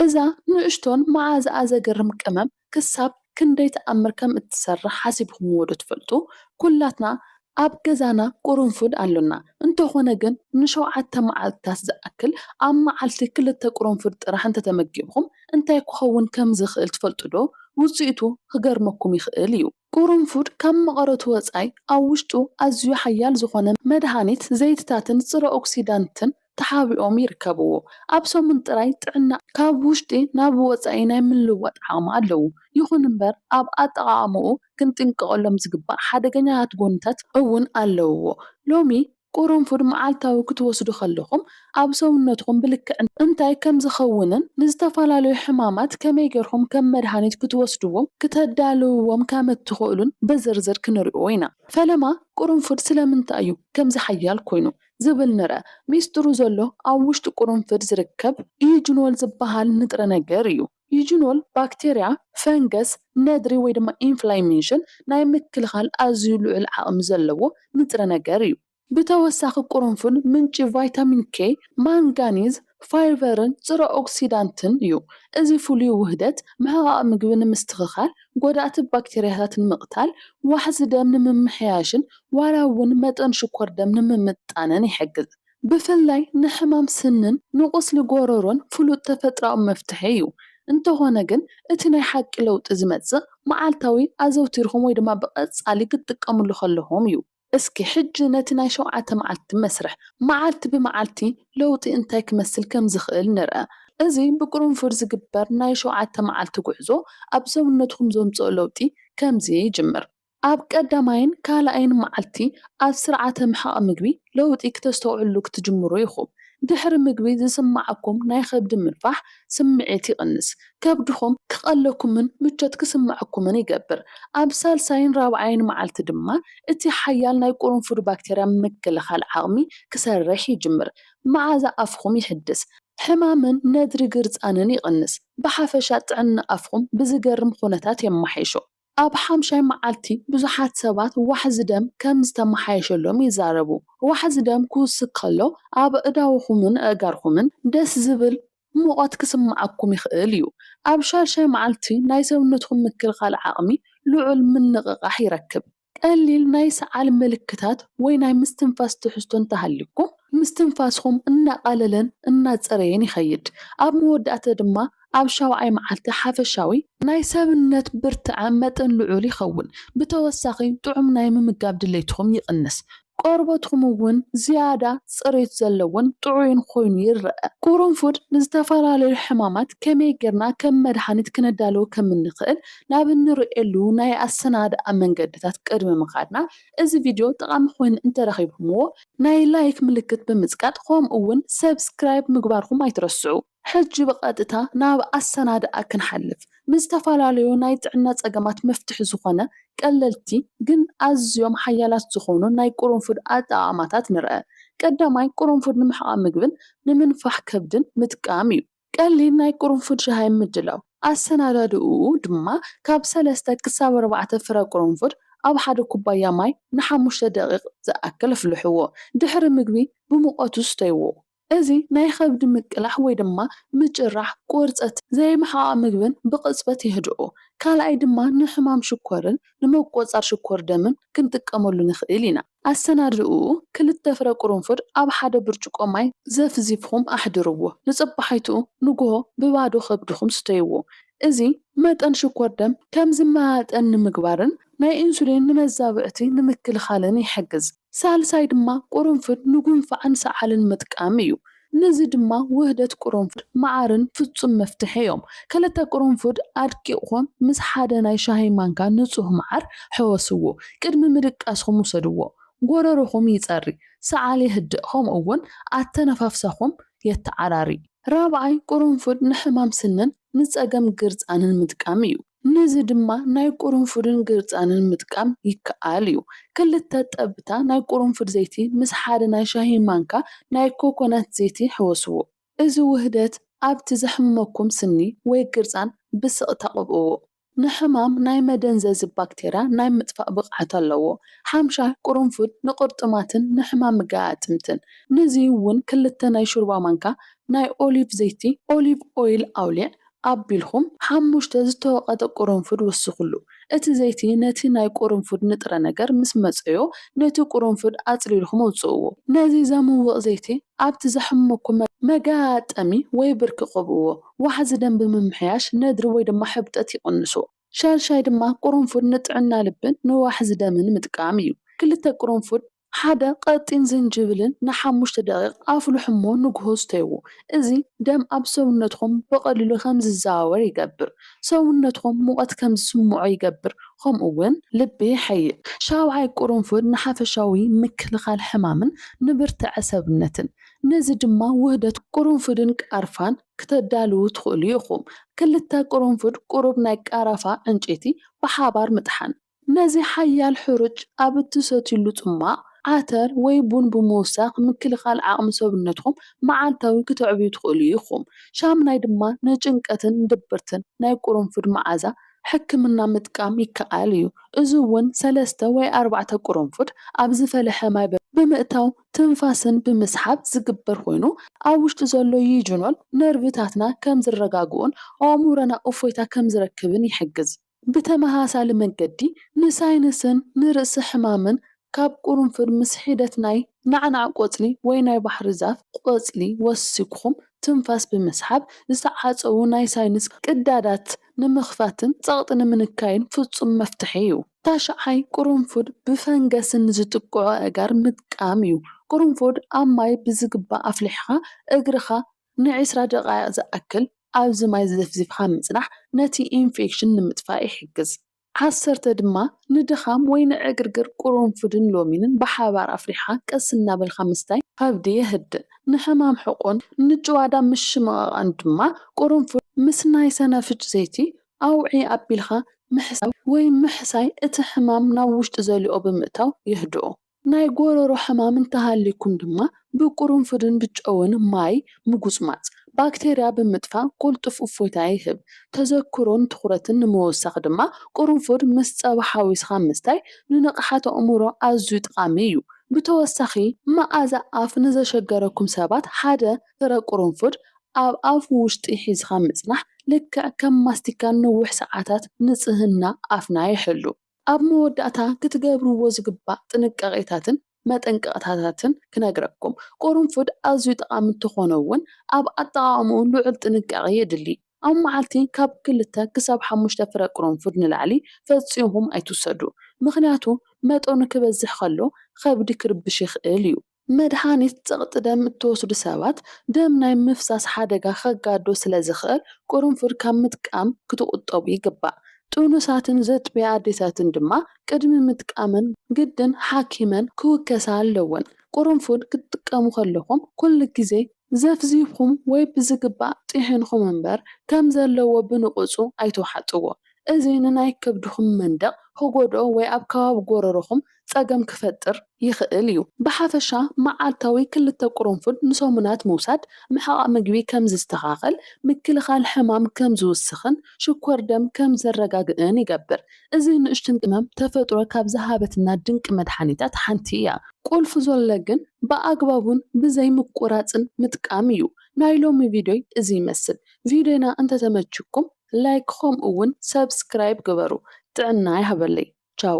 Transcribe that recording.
እዛ ንእሽቶን መኣዛኣ ዘገርም ቀመም ክሳብ ክንደይ ተኣምር ከም እትሰርሕ ሓሲብኩምዎዶ ትፈልጡ? ኵላትና ኣብ ገዛና ቅርንፉድ ኣሎና፣ እንተዀነ ግን ንሸውዓተ መዓልትታት ዝኣክል ኣብ መዓልቲ ክልተ ቅርንፉድ ጥራሕ እንተ ተመጊብኩም እንታይ ክኸውን ከም ዝኽእል ትፈልጡዶ? ውጽኢቱ ክገርመኩም ይኽእል ኢዩ። ቁሩንፉድ ካብ መቐረቱ ወጻኢ ኣብ ውሽጡ ኣዝዩ ሓያል ዝኾነ መድሃኒት፣ ዘይቲታትን ጽረ ኦክሲዳንትን ተሓቢኦም ይርከብዎ። ኣብ ሰሙን ጥራይ ጥዕና ካብ ውሽጢ ናብ ወጻኢ ናይ ምልዋጥ ዓቕሚ ኣለዎ። ይኹን እምበር ኣብ ኣጠቓቕማኡ ክንጥንቀቐሎም ዝግባእ ሓደገኛታት ጎንታት እውን ኣለውዎ። ሎሚ ቁሩንፉድ መዓልታዊ ክትወስዱ ከለኹም ኣብ ሰውነትኹም ብልክዕ እንታይ ከም ዝኸውንን ንዝተፈላለዩ ሕማማት ከመይ ጌርኩም ከም መድሃኒት ክትወስድዎም ክተዳልውዎም ከም እትኽእሉን ብዝርዝር ክንሪኦ ኢና። ፈለማ ቁሩንፉድ ስለምንታይ እዩ ከምዚ ሓያል ኮይኑ ዝብል ንርኣ። ሚስጥሩ ዘሎ ኣብ ውሽጢ ቁሩንፍድ ዝርከብ ኢዩጅኖል ዝበሃል ንጥረ ነገር እዩ። ዩጅኖል ባክቴርያ፣ ፈንገስ፣ ነድሪ ወይ ድማ ኢንፍላሜሽን ናይ ምክልኻል ኣዝዩ ልዑል ዓቕሚ ዘለዎ ንጥረ ነገር እዩ። ብተወሳኺ ቁርንፉድ ምንጪ ቫይታሚን K፣ ማንጋኒዝ፣ ፋይቨርን ጽረ ኦክሲዳንትን እዩ። እዚ ፍሉይ ውህደት፣ ምሕቓቕ ምግቢ ንምስትኽኻል፣ ጎዳእቲ ባክቴርያታት ንምቕታል፣ ዋሕዚ ደም ንምምሕያሽን ዋላ እውን መጠን ሽኮር ደም ንምምጥጣንን ይሕግዝ። ብፍላይ ንሕማም ስንን ንቁስሊ ጎረሮን ፍሉጥ ተፈጥሮኣዊ መፍትሒ እዩ። እንተኾነ ግን እቲ ናይ ሓቂ ለውጢ ዝመጽእ መዓልታዊ ኣዘውቲርኩም ወይ ድማ ብቐጻሊ ክትጥቀምሉ ከለኹም እዩ። እስኪ ሕጂ ነቲ ናይ ሸውዓተ መዓልቲ መስርሕ መዓልቲ ብመዓልቲ ለውጢ እንታይ ክመስል ከም ዝኽእል ንርኣ። እዚ ብቅርንፉድ ዝግበር ናይ ሸውዓተ መዓልቲ ጉዕዞ ኣብ ሰውነትኩም ዘምጽኦ ለውጢ ከምዚ ይጅምር። ኣብ ቀዳማይን ካልኣይን መዓልቲ ኣብ ስርዓተ ምሕቓቕ ምግቢ ለውጢ ክተስተውዕሉ ክትጅምሩ ኢኹም። ድሕሪ ምግቢ ዝስምዓኩም ናይ ከብዲ ምንፋሕ ስምዒት ይቕንስ፣ ከብድኹም ክቐለኩምን ምቾት ክስምዐኩምን ይገብር። ኣብ ሳልሳይን ራብዓይን መዓልቲ ድማ እቲ ሓያል ናይ ቁሩንፉድ ባክተርያ ምክልኻል ዓቕሚ ክሰርሕ ይጅምር፣ መዓዛ ኣፍኹም ይሕድስ፣ ሕማምን ነድሪ ግርጻንን ይቕንስ፣ ብሓፈሻ ጥዕና ኣፍኹም ብዝገርም ኹነታት የማሓይሾ። ኣብ ሓምሻይ መዓልቲ ብዙሓት ሰባት ዋሕዚ ደም ከም ዝተመሓየሸሎም ይዛረቡ። ዋሕዚ ደም ክውስኽ ከሎ ኣብ ኣእዳውኩምን ኣእጋርኩምን ደስ ዝብል ሙቐት ክስምዓኩም ይኽእል እዩ። ኣብ ሻድሻይ መዓልቲ ናይ ሰውነትኩም ምክልኻል ዓቕሚ ልዑል ምንቕቓሕ ይረክብ። ቀሊል ናይ ሰዓል ምልክታት ወይ ናይ ምስትንፋስ ትሕዝቶ እንተሃልዩኩም ምስትንፋስኩም እናቓለለን እናጸረየን ይኸይድ። ኣብ መወዳእታ ድማ ኣብ ሻውዓይ መዓልቲ ሓፈሻዊ ናይ ሰብነት ብርትዐ መጠን ልዑል ይኸውን። ብተወሳኺ ጥዑም ናይ ምምጋብ ድሌትኹም ይቕንስ። ቆርበትኩም እውን ዝያዳ ጽሬት ዘለዎን ጥዑይን ኮይኑ ይረኣ። ቁሩንፉድ ንዝተፈላለዩ ሕማማት ከመይ ጌርና ከም መድሃኒት ክነዳልዎ ከም እንኽእል ናብ እንርእየሉ ናይ ኣሰናድኣ መንገድታት ቅድሚ ምኻድና እዚ ቪድዮ ጠቓሚ ኮይኑ እንተረኺብኩምዎ ናይ ላይክ ምልክት ብምጽቃጥ ከምኡ እውን ሰብስክራይብ ምግባርኩም ኣይትረስዑ። ሕጂ ብቐጥታ ናብ ኣሰናድኣ ክንሓልፍ። ንዝተፈላለዩ ናይ ጥዕና ጸገማት መፍትሒ ዝኾነ ቀለልቲ ግን ኣዝዮም ሓያላት ዝኾኑ ናይ ቁሩንፉድ ኣጠቓቕማታት ንርኣ። ቀዳማይ ቁሩንፉድ ንምሕቓቕ ምግብን ንምንፋሕ ከብድን ምጥቃም እዩ። ቀሊል ናይ ቁሩንፉድ ሻሂ ምድላው። ኣሰናዳድእኡ ድማ ካብ ሰለስተ ክሳብ ኣርባዕተ ፍረ ቁሩንፉድ ኣብ ሓደ ኩባያ ማይ ንሓሙሽተ ደቒቕ ዝኣክል ኣፍልሕዎ። ድሕሪ ምግቢ ብሙቐቱ ስተይዎ። እዚ ናይ ኸብዲ ምቅላሕ ወይ ድማ ምጭራሕ፣ ቁርፀትን ዘይምሕቓቕ ምግብን ብቕፅበት የህድኦ። ካልኣይ ድማ ንሕማም ሽኮርን ንመቆፃር ሽኮር ደምን ክንጥቀመሉ ንኽእል ኢና። ኣሰናድእኡ፣ ክልተ ፍረ ቁርንፉድ ኣብ ሓደ ብርጭቆ ማይ ዘፍዚፍኹም ኣሕድርዎ። ንፅባሒቱ ንጉሆ ብባዶ ኸብድኹም ስተይዎ። እዚ መጠን ሽኮር ደም ከም ዝመጣጠን ንምግባርን ናይ ኢንሱሊን ንመዛብዕቲ ንምክልኻልን ይሕግዝ። ሳልሳይ ድማ ቁርንፍድ ንጉንፋዕን ሰዓልን ምጥቃም እዩ። ንዚ ድማ ውህደት ቁርንፍድ መዓርን ፍጹም መፍትሒ እዮም። ክልተ ቁርንፉድ ኣድቂቕኩም ምስ ሓደ ናይ ሻሂ ማንካ ንጹህ መዓር ሕወስዎ። ቅድሚ ምድቃስኩም ውሰድዎ። ጎረሮኹም ይጸሪ፣ ሰዓል የህድእ ከምኡ እውን ኣተነፋፍሳኹም የተዓራሪ። ራብዓይ ቁርንፉድ ንሕማም ስንን ንጸገም ግርጻንን ምጥቃም እዩ። ነዚ ድማ ናይ ቁሩንፉድን ግርጻንን ምጥቃም ይከኣል እዩ። ክልተ ጠብታ ናይ ቁሩንፉድ ዘይቲ ምስ ሓደ ናይ ሻሂ ማንካ ናይ ኮኮናት ዘይቲ ሕወስዎ። እዚ ውህደት ኣብቲ ዘሕምመኩም ስኒ ወይ ግርጻን ብስቕታ ቅብእዎ። ንሕማም ናይ መደንዘዚ ባክተርያ ናይ ምጥፋእ ብቕዓት ኣለዎ። ሓምሻይ ቁሩንፉድ ንቅርጥማትን ንሕማም ገኣጥምትን። ነዚ እውን ክልተ ናይ ሹርባ ማንካ ናይ ኦሊቭ ዘይቲ፣ Olive Oil፣ ኣውሊዕ ኣቢልኩም ሓሙሽተ ዝተወቐጠ ቁሩንፉድ ወስኹሉ። እቲ ዘይቲ ነቲ ናይ ቁሩንፉድ ንጥረ ነገር ምስ መጸዮ ነቲ ቁሩንፉድ ኣጽሊልኩም ኣውጽእዎ። ነዚ ዘምውቕ ዘይቲ ኣብቲ ዘሕመኩም መገጣጠሚ ወይ ብርኪ ቀብእዎ። ዋሕዚ ደም ብምምሕያሽ ነድሪ ወይ ድማ ሕብጠት ይቕንሶ። ሻድሻይ ድማ ቁሩንፉድ ንጥዕና ልብን ንዋሕዚ ደምን ምጥቃም እዩ። ክልተ ቁሩንፉድ ሓደ ቐጢን ዝንጅብልን ንሓሙሽተ ደቒቕ ኣፍልሑ እሞ ንግሆ ስተይዎ። እዚ ደም ኣብ ሰውነትኩም ብቐሊሉ ከም ዝዘዋወር ይገብር፣ ሰውነትኩም ሙቐት ከም ዝስምዖ ይገብር ከምኡ ውን ልቢ የሐይል። ሻውዓይ ቁርንፉድ ንሓፈሻዊ ምክልኻል ሕማምን ንብርትዐ ሰብነትን፣ ነዚ ድማ ውህደት ቁርንፉድን ቃርፋን ክተዳልዉ ትኽእሉ ኢኹም። ክልተ ቁርንፉድ ቁሩብ ናይ ቃራፋ ዕንጨይቲ ብሓባር ምጥሓን። ነዚ ሓያል ሕሩጭ ኣብ እትሰትዩሉ ጽሟቕ፣ ዓተር ወይ ቡን ብምውሳኽ ምክልኻል ዓቕሚ ሰብነትኩም መዓልታዊ ክተዕብዩ ትኽእሉ ኢኹም። ሻምናይ ድማ ንጭንቀትን ድብርትን ናይ ቁሩንፉድ መዓዛ ሕክምና ምጥቃም ይከኣል እዩ። እዚ እውን ሰለስተ ወይ ኣርባዕተ ቁሩንፉድ ኣብ ዝፈለሐ ማይ ብምእታው ትንፋስን ብምስሓብ ዝግበር ኮይኑ፣ ኣብ ውሽጢ ዘሎ ዩጁኖል ነርቭታትና ከም ዝረጋግኡን ኣእምሮና እፎይታ ከም ዝረክብን ይሕግዝ። ብተመሳሳሊ መገዲ፣ ንሳይነስን ንርእሲ ሕማምን ካብ ቁርንፉድ ምስ ሒደት ናይ ናዕናዕ ቆጽሊ ወይ ናይ ባሕሪ ዛፍ ቆጽሊ ወሲክኹም ትንፋስ ብምስሓብ ዝተዓጸዉ ናይ ሳይንስ ቅዳዳት ንምኽፋትን ጸቕጢ ንምንካይን ፍጹም መፍትሒ እዩ። ታሽዓይ፣ ቁርንፉድ ብፈንገስን ንዝጥቅዑ ኣእጋር ምጥቃም እዩ። ቁርንፉድ ኣብ ማይ ብዝግባእ ኣፍሊሕኻ እግርኻ ንዒስራ ደቓይቕ ዝኣክል ኣብዚ ማይ ዘፍዚፍካ ምጽናሕ ነቲ ኢንፌክሽን ንምጥፋእ ይሕግዝ። ዓሰርተ ድማ ንድኻም ወይ ንዕግርግር ቁሩንፉድን ሎሚንን ብሓባር ኣፍሊሕኻ ቀስ እናበልካ ምስታይ ከብዲ የህድእ። ንሕማም ሕቖን ንጭዋዳ ምሽምቓቓን ድማ ቁሩንፉድ ምስ ናይ ሰናፍጭ ዘይቲ ኣውዕይ ኣቢልካ ምሕሳብ ወይ ምሕሳይ እቲ ሕማም ናብ ውሽጢ ዘልኦ ብምእታው የህድኦ። ናይ ጎሮሮ ሕማም እንተሃልዩኩም ድማ ብቁሩንፉድን ብጨውን ማይ ምጉጽማጽ ባክተርያ ብምጥፋእ ቁልጡፍ እፎይታ ይህብ። ተዘክሮን ትኹረትን ንምውሳኽ ድማ ቁሩንፉድ ምስ ጸባ ሓዊስኻ ምስታይ ንንቕሓት ኣእምሮ ኣዝዩ ጠቓሚ እዩ። ብተወሳኺ መኣዛ ኣፍ ንዘሸገረኩም ሰባት ሓደ ፍረ ቁሩንፉድ ኣብ ኣፍ ውሽጢ ሒዝኻ ምጽናሕ ልክዕ ከም ማስቲካ ንነዊሕ ሰዓታት ንጽህና ኣፍና ይሕሉ። ኣብ መወዳእታ ክትገብርዎ ዝግባእ ጥንቃቄታትን መጠንቀቕታታትን ክነግረኩም። ቁርንፉድ ኣዝዩ ጠቓሚ እንተኾነ እውን ኣብ ኣጠቓቕምኡ ልዑል ጥንቃቄ የድሊ። ኣብ መዓልቲ ካብ ክልተ ክሳብ ሓሙሽተ ፍረ ቁርንፉድ ንላዕሊ ፈጺምኩም ኣይትውሰዱ። ምኽንያቱ መጠኑ ክበዝሕ ከሎ ከብዲ ክርብሽ ይኽእል እዩ። መድሃኒት ጸቕጢ ደም እትወስዱ ሰባት ደም ናይ ምፍሳስ ሓደጋ ከጋድዶ ስለ ዝኽእል ቅርንፉድ ካብ ምጥቃም ክትቑጠቡ ይግባእ። ጥኑሳትን ዘጥብያ ኣዴታትን ድማ ቅድሚ ምጥቃመን ግድን ሓኪመን ክውከሳ ኣለወን። ቅርንፉድ ክትጥቀሙ ከለኹም ኩሉ ግዜ ዘፍዚፍኩም ወይ ብዝግባእ ጢሒንኩም እምበር ከም ዘለዎ ብንቕጹ ኣይትውሓጥዎ። እዚ ንናይ ከብድኹም መንደቕ ክጎድኦ ወይ ኣብ ከባቢ ጎረሮኹም ጸገም ክፈጥር ይኽእል እዩ። ብሓፈሻ መዓልታዊ ክልተ ቁሩንፉድ ንሰሙናት ምውሳድ ምሕቓቕ ምግቢ ከም ዝስተኻኸል፣ ምክልኻል ሕማም ከም ዝውስኽን ሽኮር ደም ከም ዘረጋግእን ይገብር። እዚ ንእሽትን ቅመም ተፈጥሮ ካብ ዝሃበትና ድንቂ መድሓኒታት ሓንቲ እያ። ቁልፊ ዞሎ ግን ብኣግባቡን ብዘይ ምቁራጽን ምጥቃም እዩ። ናይ ሎሚ ቪድዮይ እዚ ይመስል። ቪድዮና እንተተመቺኩም ላይክ ከምኡ ውን ሰብስክራይብ ግበሩ። ጥዕና ይሃበለይ። ቻው።